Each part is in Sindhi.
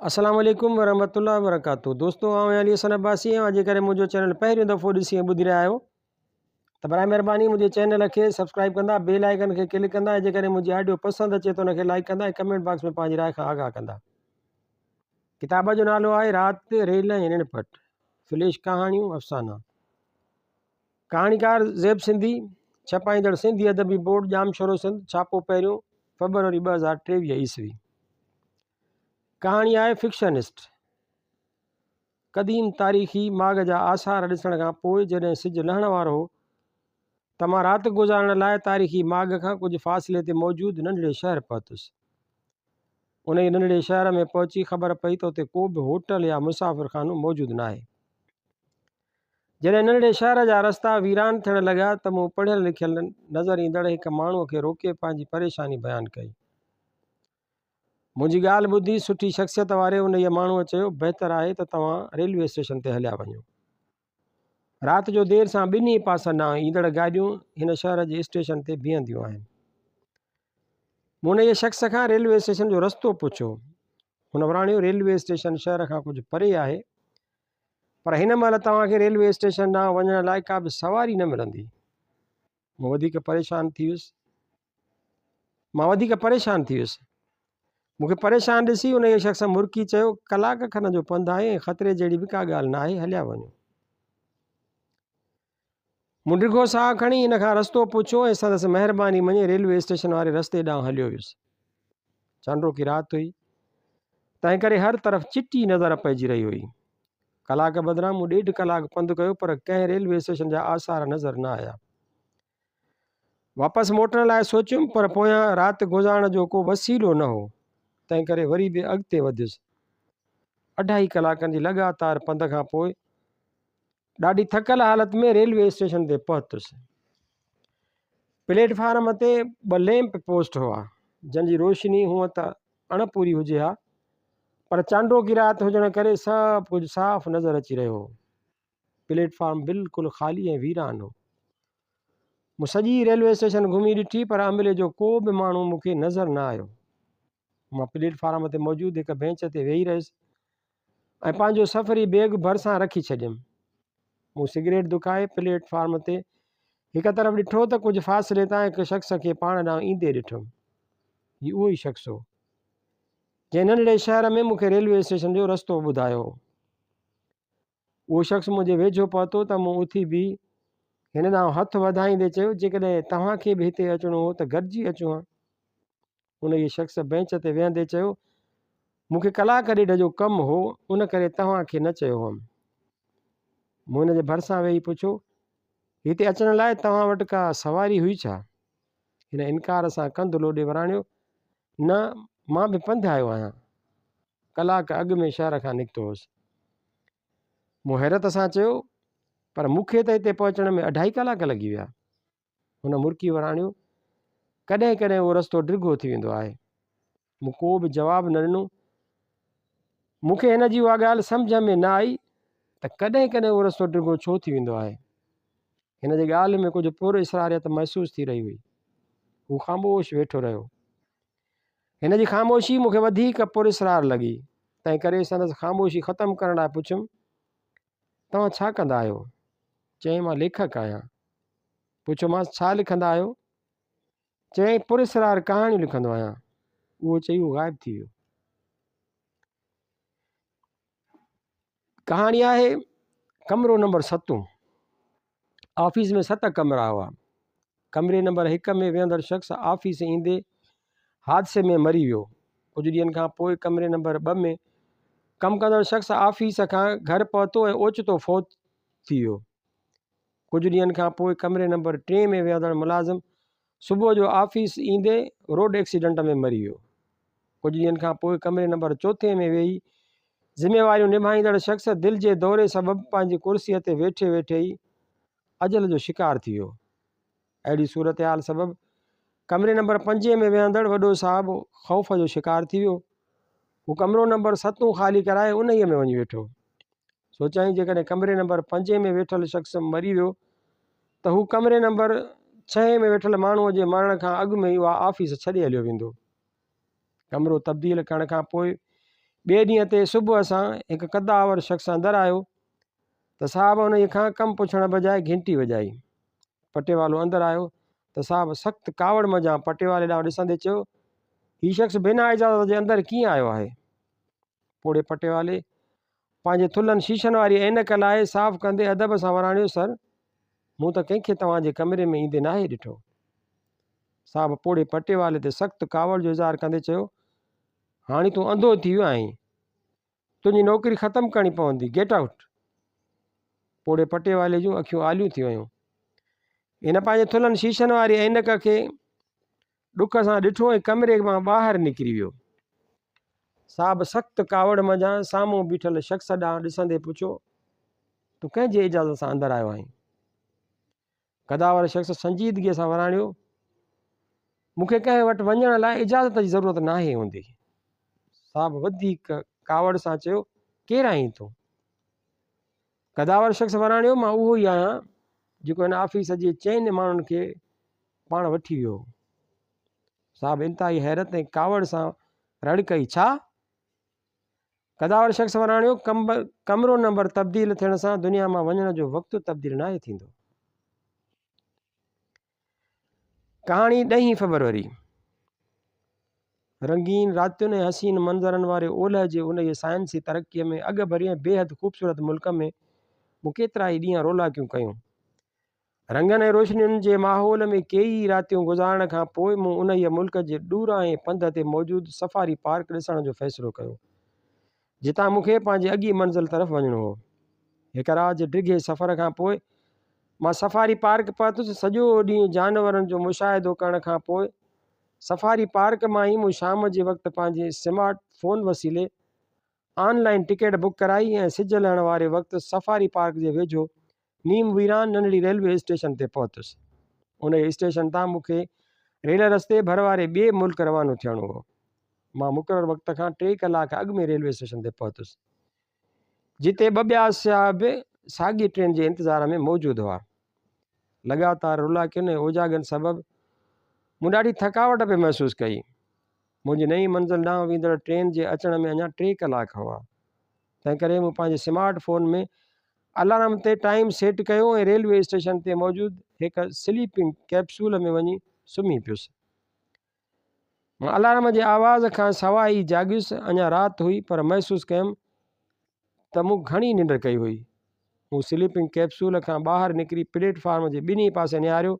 اسلام عليڪم ورحمة الله وبرڪاته دوستو آئون علي حسن عباسي آهيان جيڪڏهن منهنجو چينل پهريون دفعو ڏسي ۽ ٻڌي رهيا آهيو ته برائي مهرباني منهنجي چينل کي سبسڪرائب ڪندا بيل آئڪن کي ڪلڪ ڪندا ۽ جيڪڏهن منهنجي آڊيو پسند اچي ته ان کي لائڪ ڪندا ۽ ڪمينٽ باڪس ۾ پنهنجي راء کان آگاهه ڪندا ڪتاب جو نالو آهي رات ريل ۽ رڻ پٽ فليش ڪهاڻيون افسانا ڪهاڻيڪار زيب سنڌي ڇپائيندڙ سنڌي ادبي بورڊ ڄام شورو سنڌ ڇاپو پهريون فيبروري ٻه هزار ٽيويهه عيسوي ڪهاڻي آهي فڪشنسٽ قديم تاريخي ماڳ جا آثار ڏسڻ کان پوء جڏهن سج لهڻ وارو هو ته مان رات گذارڻ لاء تاريخي ماڳ کان ڪجهه فاصلي تي موجود ننڍڙي شهر پهتس. انهيء ننڍڙي شهر ۾ پهچي خبر پئي ته اتي ڪو به هوٽل يا مسافر خانو موجود ناهي. جڏهن ننڍڙي شهر جا رستا ويران ٿيڻ لڳا ته مون پڙهيل لکيل نظر ايندڙ هڪ ماڻهوء کي روڪي پنهنجي پريشاني بيان ڪئي. منهنجي ڳالهه ٻڌي سٺي شخصيت واري انهيء ماڻهوء چيو، بهتر آهي ته توهان ريلوي اسٽيشن تي هليا وڃو. رات جو دير سان ٻنهي پاسن ڏانهن ايندڙ گاڏيون هن شهر جي اسٽيشن تي بيهنديون آهن. مون انهيء شخص کان ريلوي اسٽيشن جو رستو پڇيو. هن وراڻيو، ريلوي اسٽيشن شهر کان ڪجهه پري آهي، پر هن مهل توهان کي ريلوي اسٽيشن ڏانهن وڃڻ لاء ڪا به سواري نه ملندي. مون وڌيڪ پريشان ٿي ويس مان وڌيڪ پريشان ٿي ويس. مون کي پريشان ڏسي انهيء شخص مرڪي چيو، ڪلاڪ کن جو پنڌ آهي ۽ خطري جهڙي به ڪا ڳالهه ناهي، هليا وڃو. مون ڊگهو ساهه کڻي هن کان رستو پڇيو ۽ سندس مهرباني مڃي ريلوي اسٽيشن واري رستي ڏانهن هليو ويس. چانڊوڪي رات هئي، تنهنڪري هر طرف چٽي نظر پئجي رهي هئي. ڪلاڪ بدران مون ڏيڍ ڪلاڪ پنڌ ڪيو پر ڪنهن ريلوي اسٽيشن جا آثار نظر نه آيا. واپس موٽڻ لاء سوچيم پر پويان رات گذارڻ جو ڪو وسيلو نه هو، تنهن ڪري وري به اڳتي وڌيس. اڍائي ڪلاڪن جي لڳاتار پنڌ کان پوء ڏاڍي ٿڪل حالت ۾ ريلوي اسٽيشن تي پهتس. پليٽ فارم تي ٻه ليمپ پوسٽ هئا، جن جي روشني هونء ته اڻ پوري هجي ها، پر چانڊوڪي رات هجڻ ڪري سڀ ڪجهه صاف نظر اچي رهيو هو. پليٽ فارم بلڪل خالي ۽ ويران هو. مون سڄي ريلوي اسٽيشن گهمي ڏٺي پر عملي جو ڪو به ماڻهو مون کي نظر نه آيو. مان پليٽ فارم تي موجود هڪ بينچ تي ويهي رهيس ۽ پنهنجو سفري بيگ ڀرسان رکي ڇڏيم. مون سگريٽ دکائي پليٽ فارم تي هڪ طرف ڏٺو ته ڪجهه فاصلي تان هڪ شخص کي پاڻ ڏانهن ايندي ڏٺم. هي اهو ئي شخص هو. جنهن ننڍڙي شهر ۾ مون کي ريلوي اسٽيشن جو رستو ٻڌايو هو. اهو شخص منهنجي ويجهو پهتو ته مون اٿي بيهي هن ڏانهن هٿ وڌائيندي چيو، جيڪڏهن توهان کي به هتي اچڻو هو ته گڏجي اچون ها. انهيء شخص بئنچ تي ويهندي چيو، مون کي ڪلاڪ ڏيڍ جو ڪم هو، ان ڪري توهان کي نه چيو هئم. مون هن جي ڀرسان ويهي پڇيو، هتي اچڻ لاء توهان وٽ ڪا سواري هئي ڇا؟ هن انڪار سان ڪنڌ لوڏي وراڻيو، نه، مان به پنڌ آيو آهيان. ڪلاڪ اڳ ۾ شهر کان نڪتو هوس. مون حيرت سان چيو، پر مون کي ته هتي پهچڻ ۾ اڍائي ڪلاڪ لڳي ويا. هن مرڪي وراڻيو، ڪڏهن ڪڏهن اهو رستو ڊگهو ٿي ويندو آهي. مون ڪو به جواب نه ڏنو. مون کي هن جي اها ڳالهه سمجهه ۾ نه آئي ته ڪڏهن ڪڏهن اهو رستو ڊگهو ڇو ٿي ويندو آهي. هن جي ڳالهه ۾ ڪجهه پر اسراريت محسوس ٿي رهي هئي. هو خاموش ويٺو رهيو. هن جي خاموشي مون کي وڌيڪ پراسرار لڳي، تنهنڪري سندس خاموشي ختم ڪرڻ لاء پڇيم، توهان ڇا ڪندا آهيو؟ چيائين، مان ليکڪ آهيان. پڇيومانس، ڇا لکندا آهيو؟ چيائين، پراسرار ڪهاڻيون لکندو آهيان. اهو چئي هو غائب ٿي ويو. ڪهاڻي آهي ڪمرو نمبر ستون آفيس ۾ ست ڪمرا هئا ڪمري نمبر هڪ ۾ ويهندڙ شخص آفيس ايندي حادثي ۾ مري ويو ڪجهه ڏينهن کان پوء ڪمري نمبر ٻه ۾ ڪم ڪندڙ شخص آفيس کان گهر پهتو ۽ اوچتو فوت ٿي ويو ڪجهه ڏينهن کان پوء ڪمري نمبر ٽي ۾ ويهندڙ ملازم صبح جو آفيس ايندي روڊ ايڪسيڊنٽ ۾ مري ويو. ڪجهه ڏينهن کان پوء ڪمري نمبر چوٿين ۾ ويهي ذميواريون نڀائيندڙ شخص دل جي دوري سبب پنهنجي ڪرسيء تي ويٺي ويٺي ئي اجل جو شڪار ٿي ويو. اهڙي صورتحال سبب ڪمري نمبر پنجين ۾ ويهندڙ وڏو صاحب خوف جو شڪار ٿي ويو. هو ڪمرو نمبر ستون خالي ڪرائي انهيء ۾ وڃي ويٺو. سوچيائين جيڪڏهن ڪمري نمبر پنجين ۾ ويٺل شخص مري ويو ته هو ڪمري نمبر ڇهين ۾ ويٺل ماڻهوء جي مرڻ کان اڳ ۾ ئي اها آفيس ڇڏي هليو ويندو. ڪمرو تبديل ڪرڻ کان پوء ٻئي ڏينهن تي صبح سان هڪ قدآور شخص اندر آيو ته صاحب انهيء کان ڪم پڇڻ بجاء گهنٽي وڄائي. پٽيوالو اندر آيو ته صاحب سخت ڪاوڙ منجهان پٽيوالي ڏانهن ڏسندي چيو، هي شخص بنا اجازت جي اندر ڪيئن آيو آهي؟ پوڙهي پٽيوالي پنهنجي ٿلهن شيشن واري عينڪ لاهي صاف ڪندي ادب سان وراڻيو سر! مون ته ڪنهن کي توهان جي ڪمري ۾ ايندي ناهي ڏٺو. صاحب پوڙهي پٽيوالي تي سخت ڪاوڙ جو اظهار ڪندي چيو، هاڻي تون انڌو ٿي ويو آهين. تنهنجي نوڪري ختم ڪرڻي پوندي. Get out! پوڙهي پٽيوالي جون اکيون آليون ٿي ويون. هن پنهنجي ٿلهن شيشن واري عينڪ کي ڏک سان ڏٺو ۽ ڪمري مان ٻاهر نڪري ويو. صاحب سخت ڪاوڙ منجهان سامهون بيٺل شخص ڏانهن ڏسندي پڇيو، تون ڪنهن جي اجازت سان اندر آيو آهين؟ قداور شخص سنجيدگيء سان وراڻيو، مون کي ڪنهن وٽ وڃڻ لاء اجازت جي ضرورت ناهي هوندي. صاحب وڌيڪ ڪاوڙ سان چيو، ڪير آهين تون؟ قداور شخص وراڻيو، مان اهو ئي آهيان، جيڪو هن آفيس جي چئن ماڻهن کي پاڻ وٺي ويو هو. صاحب انتهائي حيرت ۽ ڪاوڙ سان رڙ ڪئي، ڇا؟ قداور شخص وراڻيو، ڪمرو نمبر تبديل ٿيڻ سان دنيا مان وڃڻ جو وقت تبديل ناهي ٿيندو. ڪهاڻي ڏهين فيبروري رنگين راتين ۽ حسين منظرن واري اولهه جي انهيء سائنسي ترقيء ۾ اڳ ڀري ۽ بيحد خوبصورت ملڪ ۾ مون ڪيترا ئي ڏينهن رولاڪيون ڪيون. رنگن ۽ روشنين جي ماحول ۾ ڪيئي ئي راتيون گذارڻ کان پوء مون انهيء ملڪ جي ڏورانهين پنڌ تي موجود سفاري پارڪ ڏسڻ جو فيصلو ڪيو. جتان مون کي پنهنجي اڳيئي منزل طرف وڃڻو هو. هڪ رات جي ڊگهي سفر کان پوء مان سفاري پارڪ پهتس. سڄو ڏينهن جانورن جو مشاهدو ڪرڻ کان پوء سفاري پارڪ مان ئي مون شام جي وقت پنهنجي سمارٽ فون وسيلي آن لائين ٽڪيٽ بڪ ڪرائي ۽ سج لهڻ واري وقت سفاري پارڪ جي ويجهو نيم ويران ننڍڙي ريلوي اسٽيشن تي پهتس. انهيء اسٽيشن تان مون کي ريل رستي ڀر واري ٻئي ملڪ روانو ٿيڻو هو. مان مقرر وقت کان ٽي ڪلاڪ اڳ ۾ ريلوي اسٽيشن تي پهتس، جتي ٻه ٻيا سياح به ساڳي ٽرين جي انتظار ۾ موجود هئا. لڳاتار رولاڪين ۽ اوجاڳن سبب مون ڏاڍي ٿڪاوٽ پئي محسوس ڪئي. منهنجي نئين منزل ڏانهن ويندڙ ٽرين جي اچڻ ۾ اڃا ٽي ڪلاڪ هئا، تنهنڪري مون پنهنجي سمارٽ فون ۾ الارم تي ٽائيم سيٽ ڪيو ۽ ريلوي اسٽيشن تي موجود هڪ سليپنگ ڪئپسول ۾ وڃي سمهي پيس. مان الارم جي آواز کان سواء ئي جاڳيس، اڃا رات هئي پر محسوس ڪيم ته مون گهڻي ننڊ ڪئي هئي. مون سليپنگ ڪئپسول کان ٻاهر نڪري پليٽ فارم جي ٻنهي پاسي نهاريو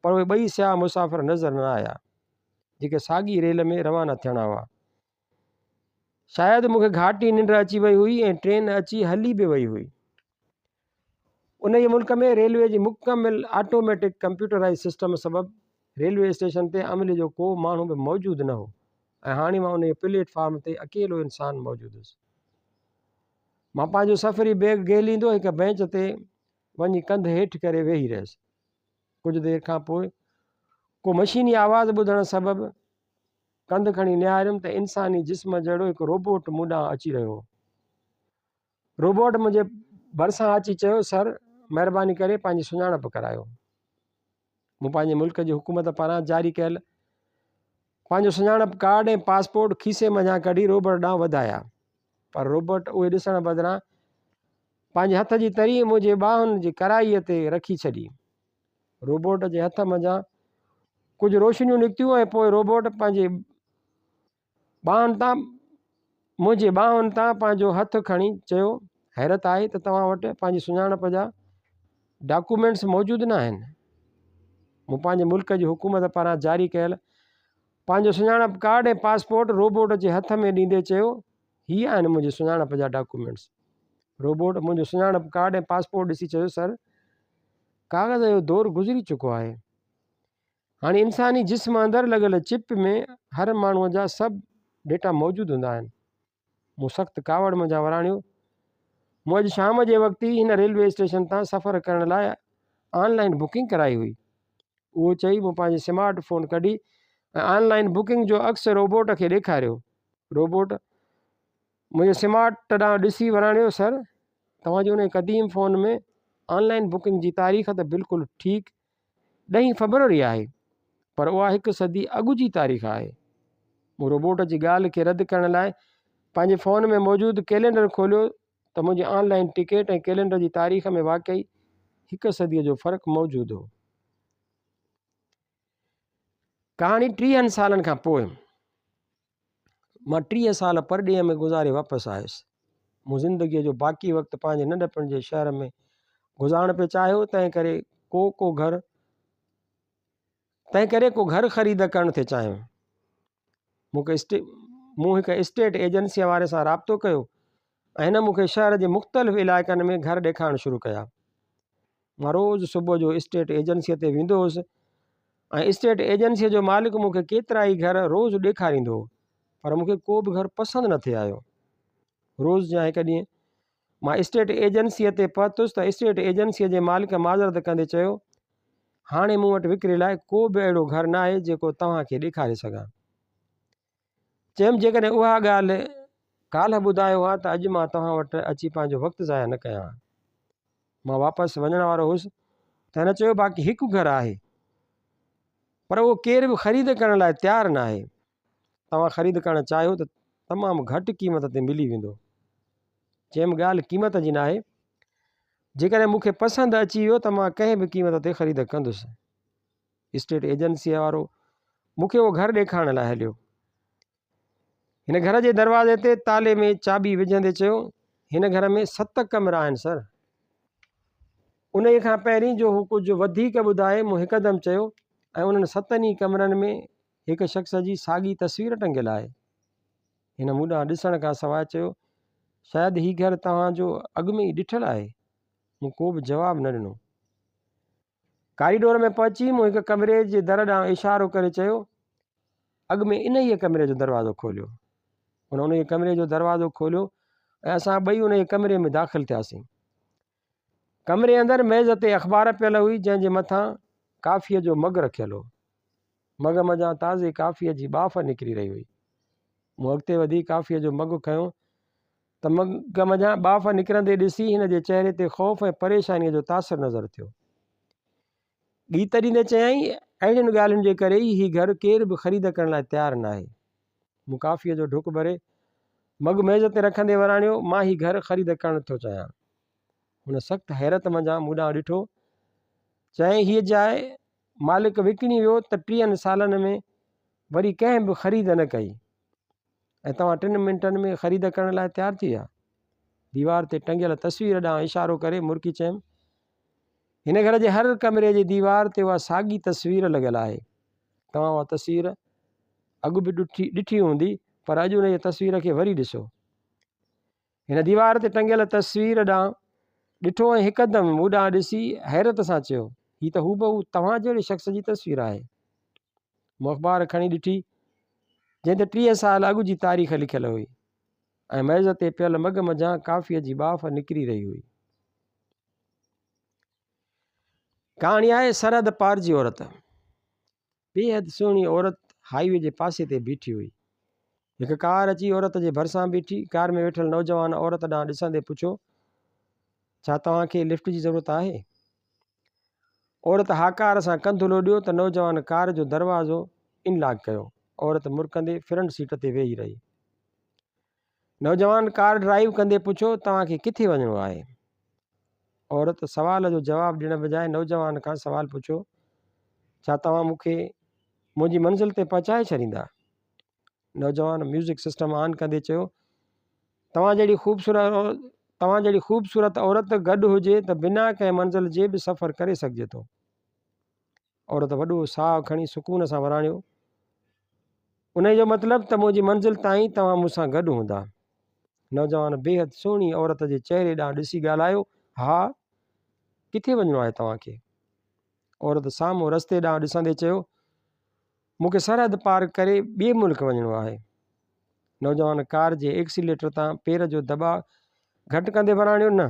پر اهي ٻئي سياح مسافر نظر نه آيا جيڪي ساڳي ريل ۾ روانا ٿيڻا هئا. شايد مون کي گهاٽي ننڊ اچي وئي هئي ۽ ٽرين اچي هلي به وئي هئي. انهيء ملڪ ۾ ريلوي جي مڪمل آٽوميٽڪ ڪمپيوٽرائيز سسٽم سبب ريلوي اسٽيشن تي عملي جو ڪو ماڻهو به موجود نه هو ۽ هاڻي مان انهيء پليٽ فارم تي اڪيلو انسان موجود هوس. مان پنهنجو سفري بيگ گهيليندو هڪ بينچ تي وڃي ڪنڌ هيٺ ڪري ويهي رهيس. ڪجهه دير کان پوء ڪو مشيني آواز ٻڌڻ سبب ڪنڌ کڻي نهاريم ته انساني جسم جهڙو هڪ روبوٽ مون ڏانهن اچي رهيو هو. روبوٽ منهنجي ڀرسان اچي چيو سر مهرباني ڪري پنهنجي سڃاڻپ ڪرايو. مون پنهنجي ملڪ جي حڪومت پاران جاري ڪيل پنهنجو سڃاڻپ ڪارڊ ۽ پاسپورٽ کيسي منجهان ڪڍي روبوٽ ڏانهن وڌايا پر روبوٽ اهي ڏسڻ بدران پنهنجي هٿ جي تري منهنجي ٻانهن جي ڪرائي تي رکي ڇڏي. روبوٽ جي هٿ منجهان ڪجهه روشنيون نڪتيون ۽ پوء روبوٽ پنهنجي ٻانهن تان منهنجي ٻانهن تان پنهنجو هٿ کڻي چيو حيرت آهي ته توهان وٽ پنهنجي سڃاڻپ جا ڊاڪومينٽس موجود نه آهن مون پنهنجي ملڪ جي حڪومت پاران جاري ڪيل پنهنجو سڃاڻپ ڪارڊ ۽ پاسپورٽ روبوٽ جي هٿ ۾ ڏيندي چيو هي آهن منهنجي سڃاڻپ جا ڊاڪومينٽس روبوٽ منهنجو سڃاڻپ ڪارڊ ۽ پاسپورٽ ڏسي چيو سر ڪاغذ جو دور گذري چڪو آهي. هاڻي انساني جسم اندر لڳل چپ ۾ هر ماڻهو جا سڀ ڊيٽا موجود هوندا آهن. مون سخت ڪاوڙ منجهان وراڻيو. مون اڄ شام جي وقت ئي هن ريلوي اسٽيشن تان سفر ڪرڻ لاء آن لائن بڪنگ ڪرائي هئي. اهو چئي مون پنهنجي سمارٽ فون ڪڍي ۽ آن لائن بڪنگ جو عڪس روبوٽ کي ڏيکاريو. روبوٽ منهنجي سمارٽ ڏانهن ڏسي وراڻيو، سر، توهان جي انهيء قديم فون ۾ آن لائين بڪنگ جي تاريخ ته بلڪل ٺيڪ ڏهين فبروري آهي، پر اها هڪ صدي اڳ جي تاريخ آهي. مون روبوٽ جي ڳالهه کي رد ڪرڻ لاء پنهنجي فون ۾ موجود ڪئلينڊر کوليو ته منهنجي آن لائين ٽڪيٽ ۽ ڪئلينڊر جي تاريخ ۾ واقعي هڪ صديء جو فرق موجود هو. ڪهاڻي ٽيهن سالن کان پوء. مان ٽيهه سال پرڏيهه ۾ گذاري واپس آيس. مون زندگيء جو باقي وقت پنهنجي ننڍپڻ جي شهر ۾ گذارڻ پئي چاهيو، تنهن ڪري ڪو ڪو گهر تنهن ڪري ڪو گهر خريد ڪرڻ ٿي چاهيو. مون کي اسٽي مون هڪ اسٽيٽ ايجنسيء واري سان رابطو ڪيو ۽ هن مون کي شهر جي مختلف علائقن ۾ گهر ڏيکارڻ شروع ڪيا. مان روز صبح جو اسٽيٽ ايجنسيء تي ويندو هوس ۽ اسٽيٽ ايجنسيء جو مالڪ مون کي ڪيترائي گهر روز ڏيکاريندو هو پر مون کي ڪو به گهر پسند نه ٿي آيو. روز جيان هڪ ڏينهن مان اسٽيٽ ايجنسيء تي پهتس ته اسٽيٽ ايجنسيء جي مالڪ معذرت ڪندي چيو، هاڻي مون وٽ وڪري لاء ڪو به اهڙو گهر ناهي جيڪو توهان کي ڏيکاري سگهان. چيم، جيڪڏهن اها ڳالهه ڪالهه ٻڌايو ها ته اڄ مان توهان وٽ اچي پنهنجو وقت ضايع نه ڪيان ها. مان واپس وڃڻ وارو هوس ته هن چيو، باقي هڪ گهر آهي، پر اهو ڪير به خريد ڪرڻ لاء تيار ناهي. توهان خريد ڪرڻ چاهيو ته تمام گهٽ قيمت تي ملي ويندو. چيم، ڳالهه قيمت جي ناهي، جيڪڏهن مون کي پسند اچي ويو ته مان ڪنهن به قيمت تي خريد ڪندس. اسٽيٽ ايجنسيء وارو مون کي اهو گهر ڏيکارڻ لاء هليو. هن گهر جي دروازي تي تالي ۾ چاٻي وجهندي چيو، هن گهر ۾ ست ڪمرا آهن سر. انهيء کان پهرين جو هو ڪجهه وڌيڪ ٻڌائي، مون هڪدم چيو، ۽ انهن ستن ئي ڪمرن ۾ هڪ شخص جي ساڳي تصوير ٽنگيل آهي. هن مون ڏانهن ڏسڻ کان سواء چيو، شايد هي گهر توهان جو اڳ ۾ ئي ڏٺل آهي. مون ڪو به جواب نه ڏنو. ڪاريڊور ۾ پهچي مون هڪ ڪمري جي در ڏانهن اشارو ڪري چيو، اڳ ۾ انهيء ڪمري جو دروازو کوليو. هن انهيء ڪمري جو دروازو کوليو ۽ اسان ٻئي انهيء ڪمري ۾ داخل ٿياسين. ڪمري اندر ميز تي اخبار پيل هئي جنهن جي مٿان ڪافيء جو مگ رکيل هو. مگ منجهان تازي ڪافيء جي ٻاڦ نڪري رهي هئي. مون اڳتي وڌي ڪافيء جو مگ کنيو ته مڳ منجهان ٻاڦ نڪرندي ڏسي هن جي چهري تي خوف ۽ پريشانيء جو تاثر نظر ٿيو. ڳيت ڏيندي چيائين، اهڙين ڳالهين جي ڪري ئي هي گهر ڪير به خريد ڪرڻ لاء تيار ناهي. مون ڪافيء جو ڍڪ ڀري، مڳ ميز تي رکندي وراڻيو، مان هي گهر خريد ڪرڻ ٿو چاهيان. هن سخت حيرت منجهان مون ڏانهن ڏٺو. چيائين، هيء جاء مالڪ وڪڻي ويو ته ٽيهن سالن ۾ وري ڪنهن به خريد نه ڪئي. ۽ توهان ٽن منٽن ۾ خريد ڪرڻ لاء تيار ٿي ويا. ديوار تي ٽنگيل تصوير ڏانهن اشارو ڪري مرڪي چيم، هن گهر جي هر ڪمري جي ديوار تي اها ساڳي تصوير لڳل آهي. توهان اها تصوير اڳ به ڏٺي هوندي پر اڄ ان جي تصوير کي وري ڏسو. هن ديوار تي ٽنگيل تصوير ڏانهن ڏٺو ۽ هڪدم مون ڏانهن ڏسي حيرت سان چيو هي ته هوبهو توهان جهڙي شخص جي تصوير آهي مون اخبار کڻي ڏٺي جنهن تي ٽيهه سال اڳ جي تاريخ لکيل هئي ۽ ميز تي پيل مگ منجهان ڪافيء جي باف نڪري رهي هئي ڪهاڻي آهي سرحد پار جي عورت بيحد سهڻي عورت هاء وي جي پاسي تي بيٺي هئي. هڪ ڪار اچي عورت جي ڀرسان بيٺي. ڪار ۾ ويٺل نوجوان عورت ڏانهن ڏسندي پڇيو، ڇا توهان کي لفٽ جي ضرورت آهي؟ عورت هاڪار سان ڪنڌ لوڏيو ته نوجوان ڪار جو دروازو ان لاڪ ڪيو. عورت مرڪندي فرنٽ سيٽ تي ويهي رهي. نوجوان ڪار ڊرائيو ڪندي پڇيو، توهان کي ڪٿي وڃڻو آهي؟ عورت سوال جو جواب ڏيڻ بجاء نوجوان کان سوال پڇيو، ڇا توهان مون کي منهنجي منزل تي پهچائي ڇڏيندا؟ نوجوان ميوزڪ سسٽم آن ڪندي چيو، توهان جهڙي خوبصورت توهان جهڙي خوبصورت عورت گڏ هجي ته بنا ڪنهن منزل جي به سفر ڪري سگهجي ٿو. عورت وڏو ساهه کڻي سڪون سان وراڻيو، انهيء جو مطلب ته منهنجي منزل تائين توهان مون سان گڏ هوندا. نوجوان بيحد سهڻي عورت جي چهري ڏانهن ڏسي ڳالهايو، ها، ڪٿي وڃڻو آهي توهان کي؟ عورت سامهون رستي ڏانهن ڏسندي چيو، مون کي سرحد پار ڪري ٻئي ملڪ وڃڻو آهي. نوجوان ڪار جي ايڪسيليٽر تان پير جو دٻاء گهٽ ڪندي وراڻيو، نه،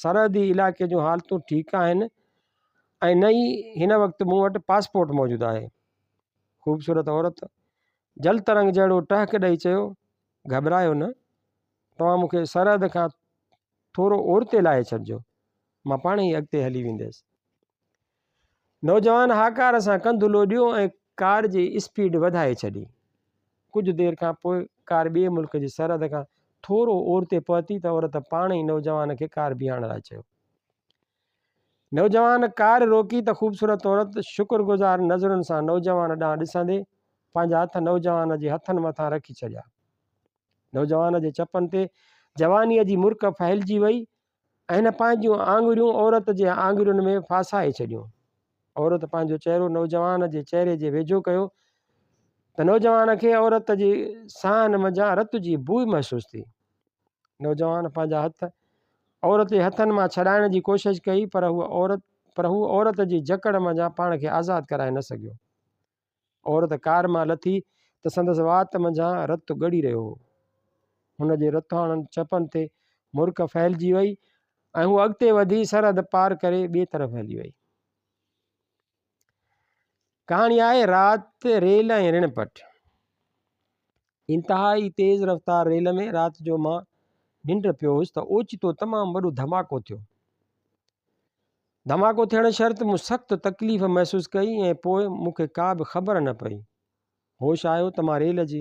سرحدي علائقي جون حالتون ٺيڪ آهن، ۽ نه ئي هن وقت مون وٽ پاسپورٽ موجود آهي. خوبصورت عورت جل ترنگ جهڙو ٽهڪ ڏئي چيو، گهٻرايو نه، توهان مون کي سرحد کان ٿورو اورتي لاهي ڇڏجو، مان پاڻ ئي اڳتي هلي وينديس. نوجوان هاڪار سان ڪنڌ لوڏيو ۽ ڪار جي اسپيڊ وڌائي ڇڏي. ڪجهه دير کان پوء ڪار ٻئي ملڪ جي سرحد کان ٿورو اورتي پهتي ته عورت پاڻ ئي نوجوان کي ڪار بيهارڻ لاء چيو. نوجوان ڪار روڪي ته خوبصورت عورت شڪر گذار نظرن سان نوجوان ڏانهن ڏسندي پنهنجا هٿ نوجوان جي هٿن مٿان رکي ڇڏيا. نوجوان جي چپن تي جوانيء جي مرڪ ڦهلجي وئي ۽ هن پنهنجيون آڱريون عورت جي آڱرين ۾ ڦاسائي ڇڏيون. عورت پنهنجو چهرو نوجوان جي چهري جي ويجهو ڪيو ته نوجوان کي عورت جي ساهن منجهان رت جي بوء محسوس ٿي. نوجوان پنهنجا هٿ عورت جي هٿن مان ڇڏائڻ جي ڪوشش ڪئي پر هو عورت پر هو عورت جي جڪڙ منجهان پاڻ کي آزاد ڪرائي نه سگهيو. عورت ڪار مان لٿي ته سندس وات منجهان رت ڳڙي رهيو هو. هن جي رتوڻن چپن تي مرڪ ڦهلجي وئي ۽ هوء اڳتي وڌي سرحد پار ڪري ٻئي طرف هلي وئي. ڪهاڻي آهي رات، ريل ۽ رڻ پٽ. انتهائي تيز رفتار ريل ۾ رات جو مان ننڊ پيو هوس ته اوچتو تمام وڏو ڌماڪو ٿيو. ڌماڪو ٿيڻ شرط مون سخت تڪليف محسوس ڪئي ۽ پوء مون کي ڪا به خبر نه پئي. هوش آيو ته مان ريل جي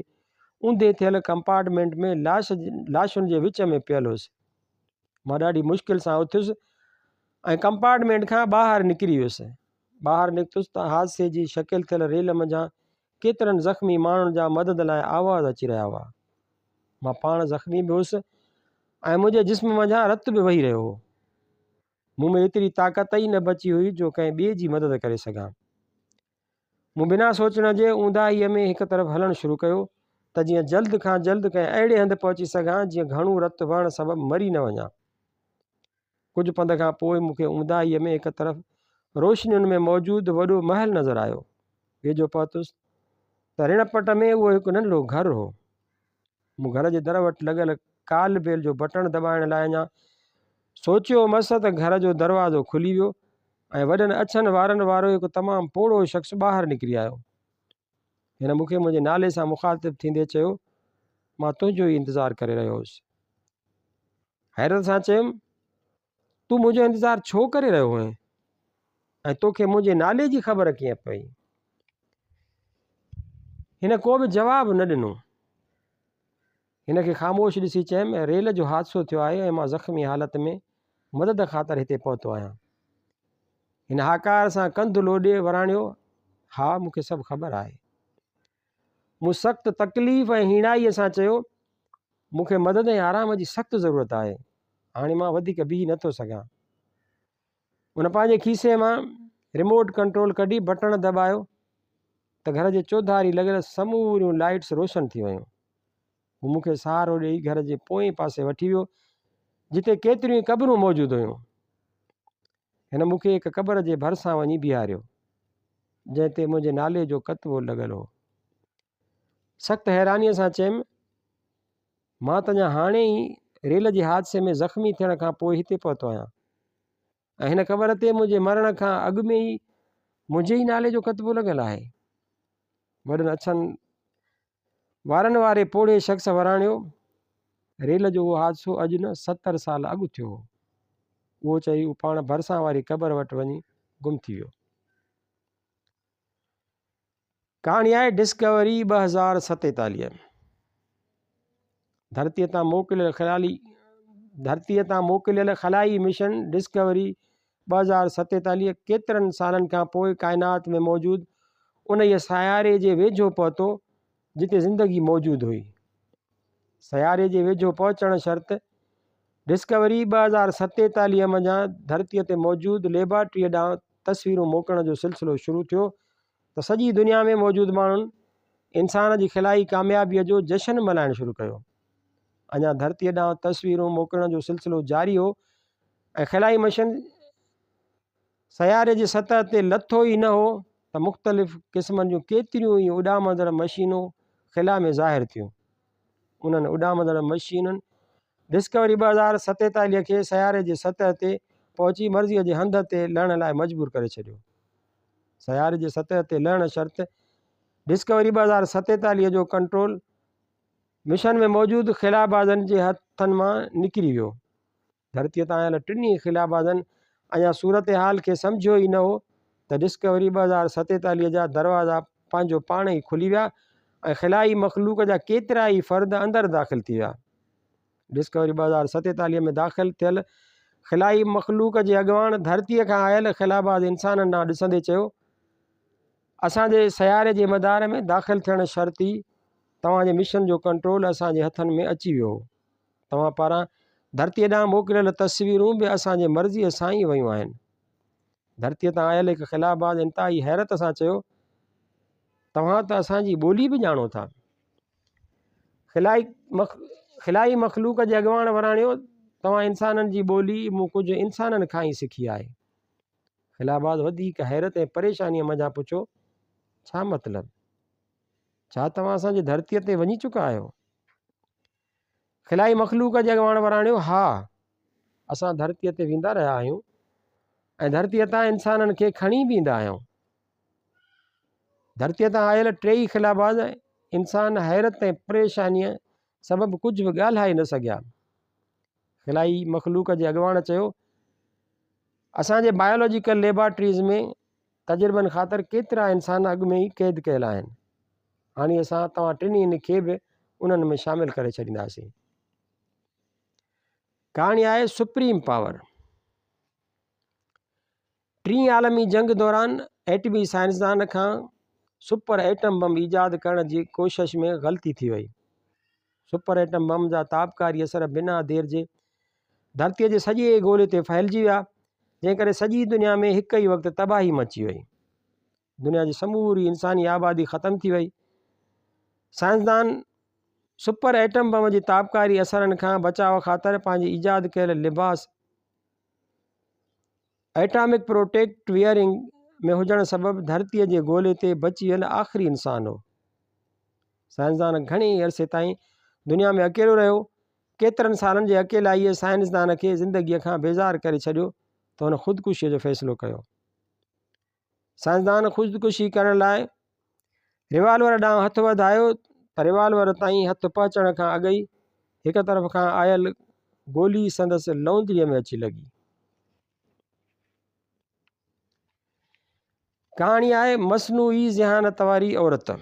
اونڌي ٿيل ڪمپارٽمينٽ ۾ لاش لاشن جي وچ ۾ پيل هيس. مان ڏاڍي مشڪل سان اٿيس ۽ ڪمپارٽمينٽ کان ٻاهر نڪري ويس. ٻاهر نڪتس ته حادثي جي شڪل ٿيل ريل منجهان ڪيترن زخمي ماڻهن جا مدد لاء آواز اچي رهيا هئا. مان پاڻ زخمي به هيس ۽ منهنجي جسم منجهان رت به وهي رهيو هو. مون ۾ ايتري طاقت ئي نه بچي هئي جو ڪنهن ٻئي جي مدد ڪري سگهان. مون بنا سوچڻ جي اونداهيء ۾ هڪ طرف هلڻ شروع ڪيو ته جيئن جلد کان جلد ڪنهن اهڙي هنڌ پهچي سگهان جيئن گهڻو رت وهڻ سبب مري نه وڃان. ڪجهه پنڌ کان پوء مون کي اونداهيء ۾ هڪ طرف روشنين ۾ موجود وڏو محل نظر آيو. ويجهو پهتس ته رڻ پٽ ۾ اهو هڪ ننڍڙو گهر هو. مون گهر جي در وٽ لڳل ڪال بيل جو بٽڻ دٻائڻ لاء اڃا سوچيو هومس ته گهر جو دروازو کلي ويو ۽ وڏن اڇن وارن وارو هڪ تمام پوڙهو شخص ٻاهر نڪري آيو. هن مون کي منهنجي نالي سان مخاطب ٿيندي چيو، مان تنهنجو ئي انتظار ڪري رهيو هوس. حيرت سان چيم، تون منهنجو انتظار ڇو ڪري رهيو هئين ۽ توکي منهنجي نالي جي خبر ڪيئن پئي هن ڪو به جواب نه ڏنو هن کي خاموش ڏسي چيم ريل جو حادثو ٿيو آهي ۽ مان زخمي حالت ۾ مدد خاطر هتي پهتو آهيان هن هاڪار سان ڪنڌ لوڏي وراڻيو ها مون کي سڀ خبر آهي مون سخت تڪليف ۽ هيڻائيء سان چيو، مون کي مدد ۽ آرام جي سخت ضرورت آهي. هاڻي مان وڌيڪ بيهي نٿو سگهان. هن پنهنجي کيسي مان ريموٽ ڪنٽرول ڪڍي بٽڻ دٻايو ته گهر جي چوڌاري لڳل سموريون لائيٽس روشن ٿي ويون. هو مون کي سهارو ڏيئي گهر جي پوئين پاسي وٺي ويو، جتي ڪيتريون ئي قبرون موجود هيون. هن مون کي هڪ قبر جي ڀرسان وڃي بيهاريو، جنهن تي منهنجي نالي جو ڪتبو لڳل هو. سخت حيرانيء سان چيم، مان ته اڃا هاڻي ئي ريل جي حادثي ۾ زخمي ٿيڻ کان پوء هتي پهتو آهيان ۽ هن قبر تي منهنجي مرڻ کان اڳ ۾ ئي منهنجي ئي نالي جو ڪتبو لڳل آهي. وڏن اڇن وارن واري پوڙهي شخص وراڻيو، ريل جو اهو حادثو اڄ نه ستر سال اڳ ٿيو هو. اهو چئي هو پاڻ ڀرسان واري قبر وٽ وڃي گم ٿي ويو. ڪهاڻي آهي ڊسڪوري ٻه هزار ستيتاليهه. ڌرتيء تان موڪليل خيالي ڌرتيء تان موڪليل خلائي مشن ڊسڪوري ٻه هزار ستيتاليهه ڪيترن سالن کان پوء ڪائنات ۾ موجود انهيء سياري جي ويجهو پهتو جتي زندگي موجود هئي. سياري جي ويجهو پهچڻ شرط ڊسڪوري ٻه هزار ستيتاليهه منجهان ڌرتيء تي موجود ليبارٽريء ڏانهن تصويرون موڪلڻ جو سلسلو شروع ٿيو ته سڄي دنيا ۾ موجود ماڻهن انسان جي خلائي ڪاميابيء جو جشن ملهائڻ شروع ڪيو. اڃا ڌرتيء ڏانهن تصويرون موڪلڻ جو سلسلو جاري هو ۽ خلائي مشن سياري جي سطح تي لٿو ئي نه هو ته مختلف قسمن جون ڪيتريون ئي اڏامندڙ مشينون خلا ۾ ظاهر ٿيون. انهن اڏامندڙ مشينن ڊسڪوري ٻه هزار ستيتاليهه کي سياري جي سطح تي پهچي مرضيء جي هنڌ تي لهڻ لاء مجبور ڪري ڇڏيو. سياري جي سطح تي لهڻ شرط ڊسڪوري ٻه هزار ستيتاليهه جو ڪنٽرول مشن ۾ موجود خلابازن جي هٿن مان نڪري ويو. ڌرتيء تان آيل ٽنهي خلابازن اڃا صورتحال کي سمجهيو ئي نه هو ته ڊسڪوري ٻه هزار ستيتاليهه جا دروازا پنهنجو پاڻ ئي کلي ويا ۽ خلائي مخلوق جا ڪيترائي فرد اندر داخل ٿي ويا. ڊسڪوري ٻه هزار ستيتاليهه ۾ داخل ٿيل خلائي مخلوق جي اڳواڻ ڌرتيء کان آيل خلاباز انسانن ڏانهن ڏسندي چيو، اسان جي سياري جي مدار ۾ داخل ٿيڻ شرط ئي توهان جي مشن جو ڪنٽرول اسان جي هٿن ۾ اچي ويو هو. توهان پاران ڌرتيء ڏانهن موڪليل تصويرون به اسان جي مرضيء سان ئي ويون آهن. ڌرتيء تان آيل هڪ خلاباز انتهائي حيرت سان چيو، توهان ته اسان جي ٻولي به ڄاڻو ٿا. خلائي مخلوق جي اڳواڻ وراڻيو، توهان انسانن جي ٻولي مون ڪجهه انسانن کان ئي سکي آهي. خلاباز وڌيڪ حيرت ۽ پريشانيء منجهان پڇيو، ڇا مطلب؟ ڇا توهان اسان جي ڌرتيء تي وڃي چڪا آهيو؟ خلائي مخلوق جي اڳواڻ وراڻيو، ها! اسان ڌرتيء تي ويندا رهيا آهيون ۽ ڌرتيء تان انسانن کي کڻي به ايندا آهيون. ڌرتيء تان آيل ٽيئي خلاباز انسان حيرت ۽ پريشانيء سبب ڪجهه به ڳالهائي نه سگهيا. خلائي مخلوق جي اڳواڻ چيو، اسان جي بايولاجيڪل ليبارٽريز ۾ تجربن خاطر ڪيترا انسان اڳ ۾ ئي قيد ڪيل آهن. هاڻي اسان توهان ٽنهين کي به انهن ۾ شامل ڪري ڇڏينداسين. ڪهاڻي آهي سپريم پاور. ٽين عالمي جنگ دوران ايٽمي سائنسدان کان سپر ايٽم بم ايجاد ڪرڻ جي ڪوشش ۾ غلطي ٿي وئي. سپر ايٽم بم جا تابڪاري اثر بنا دير جي ڌرتيء جي سڄي گولي تي ڦهلجي ويا، جنهن ڪري سڄي دنيا ۾ هڪ ئي وقت تباهي مچي وئي. دنيا جي سموري انساني آبادي ختم ٿي وئي سائنسدان سپر ايٽم بم جي تابڪاري اثرن کان بچاء خاطر پنهنجي ايجاد ڪيل لباس ايٽامڪ پروٽيڪٽ ويئرنگ ۾ هجڻ سبب ڌرتيء جي گولي تي بچيل آخري انسان هو سائنسدان گهڻي عرصي تائين دنيا ۾ اڪيلو رهيو ڪيترن سالن جي اڪيلائيء سائنسدان کي زندگيء کان بيزار ڪري ڇڏيو ته هن خودڪشيء جو فيصلو ڪيو سائنسدان خودڪشي ڪرڻ لاء ريوالور ڏانهن هٿ وڌايو ته ريوالور تائين هٿ پهچڻ کان اڳ ئي هڪ طرف کان آيل گولي سندس لونگيء ۾ اچي لڳي ڪهاڻي آهي مصنوعي ذهانت واري عورت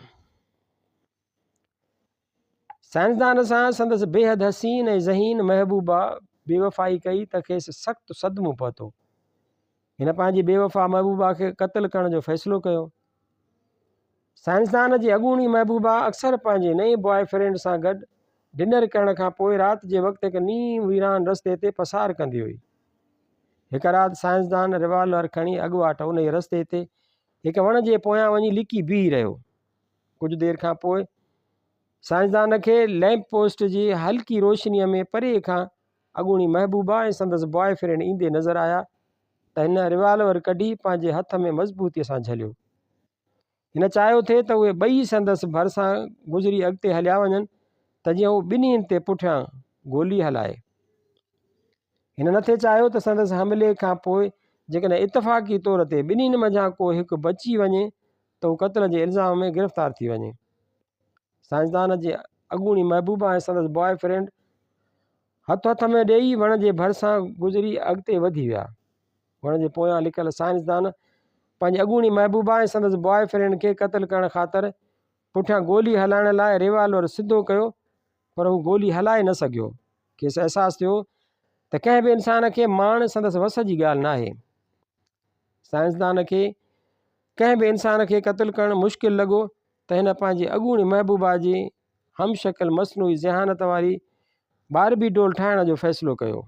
سائنسدان سان سندس بيحد حسين ۽ ذهين محبوبه بيوفائي ڪئي ته کيس سخت صدمو پهتو. هن پنهنجي بيوفا محبوبه کي قتل ڪرڻ جو فيصلو ڪيو. سائنسدان جي اڳوڻي محبوبه اڪثر پنهنجي نئين بواء فرينڊ سان گڏ ڊنر ڪرڻ کان پوء رات جي وقت هڪ نيم ويران رستي تي پسار ڪندي هئي. هڪ رات سائنسدان ريوالور کڻي اڳواٽ انهيء رستي تي هڪ وڻ جي پويان وڃي لڪي بيهي رهيو. ڪجهه دير کان پوء سائنسدان کي لئمپ پوسٽ جي هلڪي روشنيء ۾ پري کان اڳوڻي محبوبه ۽ سندس بوائي فرينڊ ايندي نظر آيا ته هن ريوالور ڪڍي پنهنجي هٿ ۾ مضبوطيء سان جهليو. هن چاهيو ٿي ته اهي ٻئي سندس ڀرسان گذري اڳتي هليا وڃن ته جيئن هو ٻنهين تي پٺيان گولي هلائي. هن نه ٿي چاهيو ته سندس حملي کان پوء جيڪڏهن اتفاقي طور تي ٻنهين منجهان ڪو هڪ بچي وڃي ته هو قتل جي الزام ۾ گرفتار ٿي وڃي. سائنسدان جي اڳوڻي محبوبه ۽ سندس بوائي فرينڊ هٿ هٿ ۾ ڏيئي وڻ جي ڀرسان گذري اڳتي وڌي ويا. وڻ جي پويان لڪل سائنسدان پنهنجي اڳوڻي محبوبه ۽ سندس بوائي فرينڊ کي قتل ڪرڻ خاطر پٺيان گولي هلائڻ لاء ريوالور سڌو ڪيو پر هو گولي هلائي نه سگهيو. کيس احساس ٿيو ته ڪنهن به انسان کي ماڻ سندس وس جي ڳالهه ناهي. سائنسدان کي ڪنهن به انسان کي قتل ڪرڻ مشڪل لڳو ته هن پنهنجي اڳوڻي محبوبا جي هم شڪل مصنوعي ذهانت واري باربي ڊول ٺاهڻ جو فيصلو ڪيو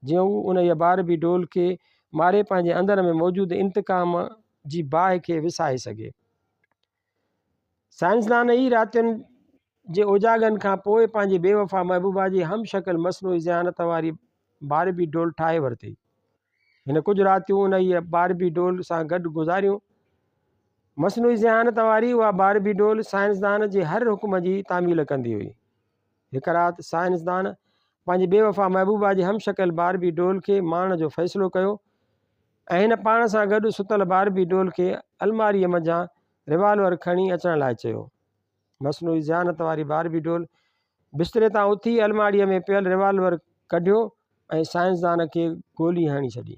جيئن هو انهيء باربي ڊول کي ماري پنهنجي اندر ۾ موجود انتقام جي باهه کي وسائي سگهي. سائنسدان ئي راتين جي اوجاڳن کان پوء پنهنجي بي وفا محبوبا جي هم شڪل مصنوعي ذهانت واري باربي ڊول ٺاهي ورتي. هن ڪجهه راتيون انهيء باربي ڊول سان گڏ گذاريون. مصنوعي ذهانت واري اها باربي ڊول سائنسدان جي هر حڪم جي تعميل ڪندي هئي. هڪ رات سائنسدان پنهنجي بي وفا محبوبا جي هم شڪل باربي ڊول کي ماڻڻ جو فيصلو ڪيو ۽ هن پاڻ سان گڏ ستل باربي ڊول کي الماريء منجهان ريوالور کڻي اچڻ لاء چيو. مصنوعي ذهانت واري باربي ڊول بستري تان اٿي الماڙيء ۾ پيل ريوالور ڪڍيو ۽ سائنسدان کي گولي هڻي ڇڏي